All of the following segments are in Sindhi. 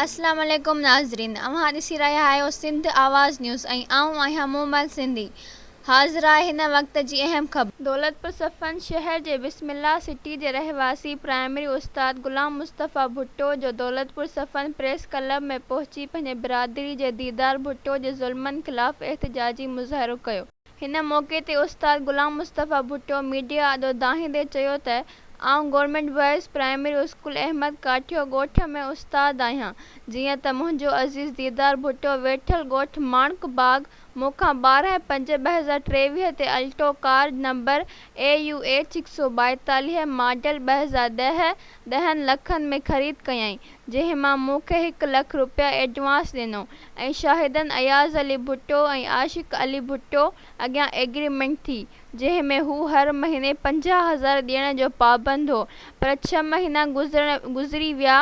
السلام عليڪم ناظرين اوهان ڏسي رهيا آهيو سنڌ آواز نيوز ۽ آئون آهيان مومل سنڌي حاضر آهي هن وقت جي اهم خبر. دولتپور صفن شهر جي بسم الله سٽي جي رهواسي پرائمري استاد غلام مصطفيٰ ڀٽو جو دولتپور صفن پريس ڪلب ۾ پهچي پنهنجي برادري جي ديدار ڀٽو جي ظلمن خلاف احتجاجي مظاهرو ڪيو. هن موقعي تي استاد غلام مصطفيٰ ڀٽو ميڊيا آڏو دانهيندي چيو ته آئون government boys primary school Ahmed Kathio ڳوٺ ۾ استاد آهيان جيئن ته منهنجو عزيز ديدار ڀٽو ويٺل ڳوٺ ماڻڪ باغ مون کان ٻارهن پنج ٻه هزار ٽيويهه تي الٽو ڪار نمبر AUH هڪ سؤ ٻائيتاليهه ماڊل ٻه هزار ڏهه ڏهن لکن ۾ خريد ڪيائين جنهن مان مون کي هڪ لک رپيا ايڊوانس ڏنو ۽ شاهدن اياز علي ڀٽو ۽ عاشق علي ڀٽو اڳيان ايگريمينٽ ٿي جنهن ۾ هو هر مهيني پنجاهه هزار ڏيڻ جو پابند هو پر ڇهه مهينا گذري ويا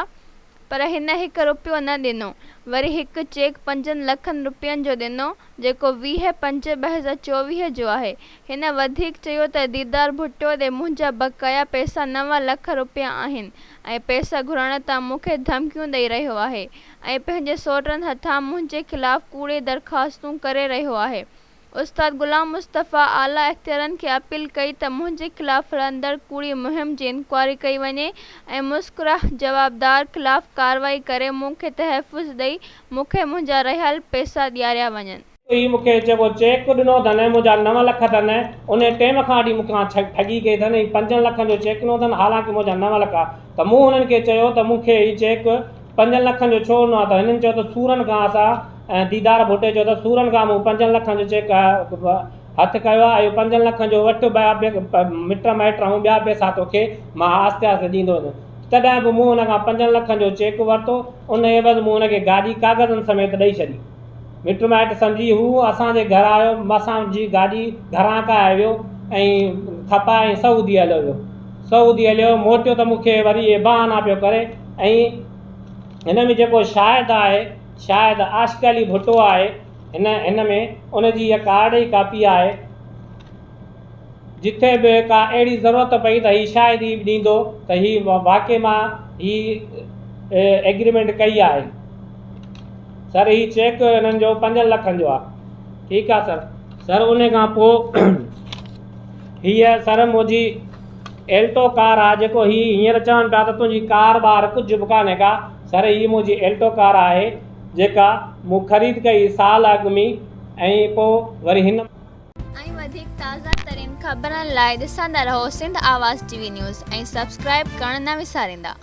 پر هن هڪ رپيو نه ڏنو وري هڪ چيڪ پنجن لکن رپين جو ڏنو جيڪو ويهه پنج ٻه هزار چوويهه جو آهي هن وڌيڪ چيو ته ديدار ڀٽو ڏي منهنجا بقايا پئسا نو لک رپيا آهن ۽ پئسا گهرڻ تان مون کي ڌمڪيون ڏئي رهيو آهي ۽ پنهنجي سوٽن هٿان منهنجي خلاف ڪوڙي درخواستون ڪري رهيو آهي استاد غلام مصطفيٰ اعليٰ اختيارين کي اپيل ڪئي ته منهنجي خلاف هلندڙ ڪوڙي مهم جي انڪوائري ڪئي وڃي ۽ مذڪوره جوابدار خلاف ڪارروائي ڪري مون کي تحفظ ڏئي مون کي منهنجا رهيل پئسا ڏياريا وڃن. هي مون کي جيڪو چيڪ ڏنو اٿن منهنجا نو لک اٿن ان ٽيم کان اڏي مون کان ٺڳي ڪئي اٿن هي پنجن لکن جو چيڪ ڏنو اٿن حالانڪه منهنجا نو لک آ ته مون هنن کي چيو ته مون کي هي چيڪ پنجن لکن جو ڇو ڏنو آ ته هنن چيو ته سورن کان اسان ۽ ديدار ڀٽي چيو ته سورن کان مون پنجن لکن جو چيڪ هٿ ڪيو آ اهو پنجن لکن جو وٺ مٽ مائٽ ۽ ٻيا پئسا توکي مان آهستي آهستي ڏيندو ويندم تڏهن به مون هن کان پنجن لکن جو چيڪ ورتو ان عيوض مون هن کي گاڏي ڪاغذن سميت ڏئي ڇڏي مٽ مائٽ سمجهي هو اسان جي گهر آيو، اسان جي گاڏي گهران ڪاهي ويو ۽ کپا ۽ سعودي هليو ويو. سعودي هليو موٽيو ته مون کي وري اهي بهانا پيو ڪري ۽ هن ۾ جيڪو شاهد آهي شاهد عاشق علي ڀٽو آهي هن هن ۾ ان جي اها ڪارڊ ئي ڪاپي آهي. جتي به ڪا اهڙي ضرورت پئي ته هي شاهدي به ڏيندو ته هي واقعي مان هي ايگريمينٽ ڪئي آهي. سر هي چيڪ هنن جو پنجن لکن جو آهي. ٺيڪ آهي سر. سر ان کان پوء هيء سر منهنجي ايلٽو ڪار آهي جيڪو هي هينئر چون پيا ته تنهنجي ڪار ٻار ڪجهه به ڪانهي ڪا. سر هيء منهنجي ايلٽو ڪار آهي جيڪا مون خريد ڪئي سال اڳ ۾ ۽ پوء وري هن ۽ وڌيڪ تازه ترين خبرن لاء ڏسندا رهو Sindh Awaz T V news ۽ subscribe ڪرڻ نه وساريندا